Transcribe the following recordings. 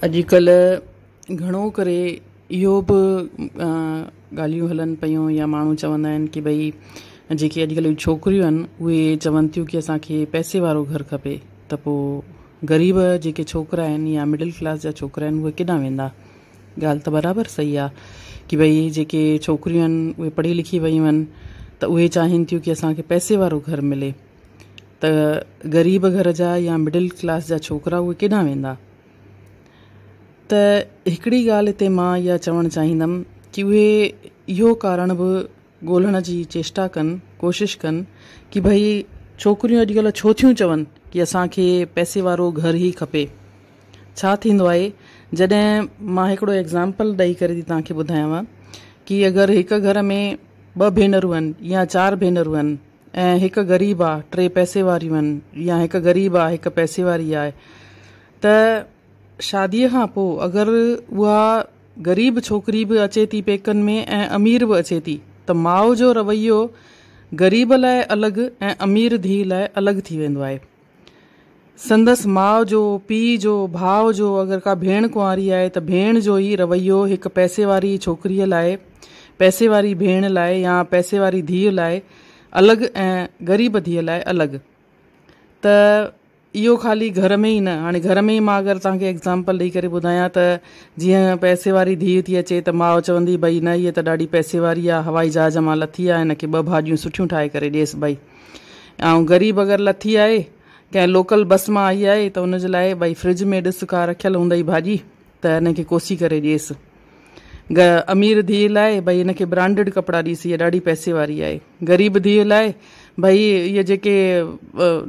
اڄڪلهه گهڻو ڪري اهو به ڳالهيون هلن پيون يا ماڻهو چوندا آهن ڪي ڀئي جيڪي اڄڪلهه جون ڇوڪريون آهن اهي چون ٿيون ڪي اسان کي پئسي وارو گهر کپي ته پو غريب جيڪي ڇوڪرا آهن يا مڊل ڪلاس جا ڇوڪرا آهن اهي ڪيڏانهن ويندا ڳالهه ته برابر صحيح آهي ڪي ڀئي جيڪي ڇوڪريون آهن اهي پڙهي لکي ويون آهن ته اهي چاهين ٿيون ڪي اسان کي پئسي وارو گهر ملي ته غريب گهر جا يا مڊل ڪلاس جا ڇوڪرا اهي ڪيڏانهن ويندا؟ ته هڪڙي ڳالهه هتي مان اها چوڻ چاهيندم ڪي اهي اهو ڪارڻ به ڳولهڻ جي چيشٽا ڪن، ڪوشش ڪن ڪي ڀئي ڇوڪريون اڄڪلهه ڇو ٿيون چون ڪي اسان کي پئسي وارو گهر ئي کپي. ڇا ٿيندو آهي جڏهن مان هڪڙو ايگزامپل ڏئي ڪري ٿي توهان کي ٻڌايانو ڪي اگر هڪ گهر ۾ ٻه ڀينرون آهن يا چار ڀينرون آهن، ۽ هڪ غريب آ ٽي پئسي واريون آهن يا هڪ غريب آ هڪ پئسي واري آهي ته شادي کان پو اگر اها غريب ڇوڪري به اچي ٿي پيڪن ۾ ۽ امير به اچي ٿي ته ماء جو رويو غريب لاء الڳ ۽ امير ڌي لاء الڳ ٿي ويندو آهي سندس ماء جو، پيء جو، ڀاء جو اگر ڪا ڀيڻ ڪنواري آهي ته ڀيڻ جو ئي رويو هڪ پئسي واري ڇوڪريء لاء، پئسي واري ڀيڻ لاء يا پئسي واري ڌيء لاء الڳ ۽ غريب ڌيء لاء الڳ. ته اهو خالي گهر ۾ ئي نه هاڻي گهر ۾ ئي مان اگر توهان کي ايگزامپل ڏئي ڪري ٻڌايان ته جيئن پئسي واري ڌيء ٿي اچي ته ماء چوندي ڀئي نه هيء ته ڏاڍي پئسي واري آهي هوائي جهاز مان لٿي آهي هن کي ٻه ڀاڄيون سٺيون ٺاهي ڪري ڏيس ڀئي. آئون غريب اگر لٿي آهي ڪنهن لوڪل بس مان آئي آهي ته ان جي لاء ڀائي فرج ۾ ڏس ڪا رکيل هوندئي ڀاڄي ته ان کي ڪوسي ڪري ڏيس. گ امير ڌيء لاء ڀائي ان کي برانڊيڊ ڪپڙا ڏيس هيء ڏاڍي پئسي واري آهي. غريب ڌيء لاء ڀائي اهي جيڪي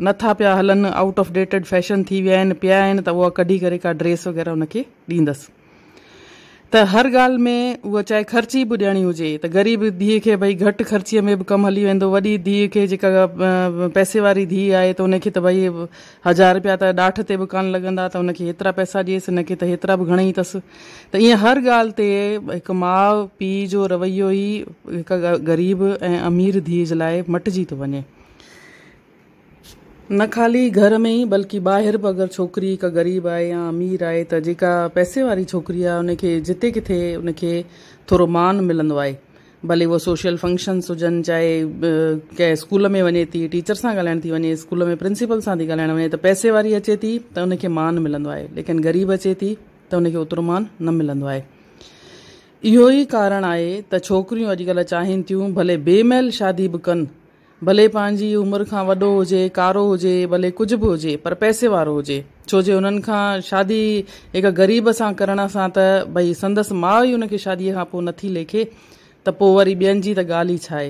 نه ٿا پيا هلن آئوٽ آف ڊيٽيڊ فيشن ٿي ويا آهن پيا آهن ته اها ڪڍي ڪري ڪا ڊريس وغيره ان کي ڏيندس. ته هر ڳالهه ۾ اها چاهي خرچي به ڏيڻي هجي ته غريب ڌيء کي ڀئي گهٽ خرچي ۾ به ڪم هلي ويندو وڏي ڌيء کي جيڪا پئسي واري ڌيء آهي ته ان کي ته ڀئي هزار رپيا ته ڏاٺ تي به ڪانه لڳندا ته ان کي هيترا پئسا ڏيس ان کي ته هيترا به گهڻي اٿس ته ايئن هر ڳالهه تي هڪ ماء پيء جو رويو ئي هڪ غريب ۽ امير ڌيء جي لاء مٽجي ٿو وڃي. نه خالي گهر ۾ ئي بلڪه ٻاهر به اگر ڇوڪري هڪ غريب آهي يا امير آهي ته جيڪا پئسي واري ڇوڪري آهي ان کي جتي ڪٿي ان کي ٿورو مان ملندو آهي ڀلي اهو سوشل فنڪشنس هجن چاهي ڪنهن اسڪول ۾ وڃي ٿي ٽيچر سان ڳالهائڻ ٿي وڃي اسڪول ۾ پرنسپل سان ٿي ڳالهائڻ وڃي ته پئسي واري اچي ٿي ته ان کي مان ملندو آهي ليڪن غريب اچي ٿي ته ان کي اوترو مان نه ملندو آهي اهو ئي ڪارڻ آهي ته ڇوڪريون اڄڪلهه چاهين ٿيون ڀلي بي ميل شادي به ڪن ڀلي پنهنجي عمر کان وڏو هجي، ڪارو هجي، ڀلي ڪجهه به هجي پر پئسي وارو هجي، ڇو جي انهن کان شادي هڪ غريب سان ڪرڻ سان ته ڀئي سندس ماء ئي ان کي شاديء کان پوء نٿي ليکي ته پوء وري ٻين جي ته ڳالهه ئي ڇاهي؟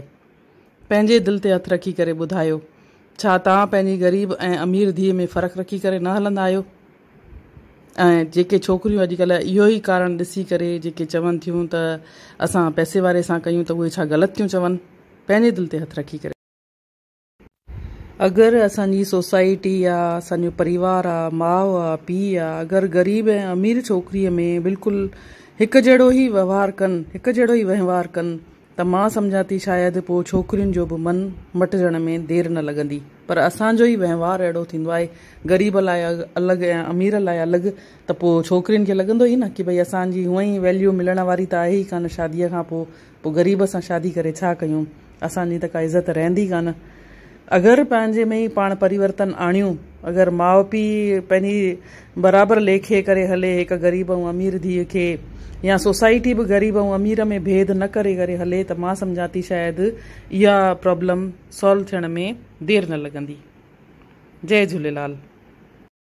پنهنجي دل تي هٿ رکي ڪري ٻڌايو، ڇا توهان پنهنجي غريب ۽ امير ڌيء ۾ فرق رکي ڪري نه هلندا آهيو؟ ۽ جيڪي ڇوڪريون اڄڪلهه اهو ئي ڪارڻ ڏسي ڪري جيڪي چون ٿيون ته اسان پئسي واري سان ڪيون ته اهي ڇا غلط ٿيون چون؟ پنهنجي دل تي هٿ رکي ڪري اگر اسان جي سوسائٽي آ اسان جو پريوار آ ماء آ پي آ اگر غريب ۽ امير ڇوڪري ۾ بلڪل هڪ جهڙو ئي وهوار ڪن هڪ جهڙو ئي وهنوار ڪن ته مان سمجهان ٿي شايد پوء ڇوڪرين جو به من مٽجڻ ۾ دير نه لڳندي. پر اسان جو ئي وهنوار اهڙو ٿيندو آهي، غريب لاء الڳ ۽ امير لاء الڳ ته پوء ڇوڪرين کي لڳندو ئي نه ڪي ڀئي اسان جي هونء ئي ويليو ملڻ واري ته آهي ئي ڪانه شاديء کان پوء پوء غريب سان شادي ڪري ڇا ڪيون؟ اسان جي ته ڪا عزت رهندي ڪانه. اگر پنهنجي ۾ ئي پاڻ پريورتن آڻيون، اگر ماء پيء پنهنجي برابر ليکي ڪري هلي، هڪ غريب ۽ امير ڌيء کي يا سوسائٽي به غريب ۽ امير ۾ ڀيد نه ڪري ڪري هلي ته مان سمجهان ٿي شايد اها پرابلم سالو ٿيڻ ۾ دير نه لڳندي. جئي جهوليلال.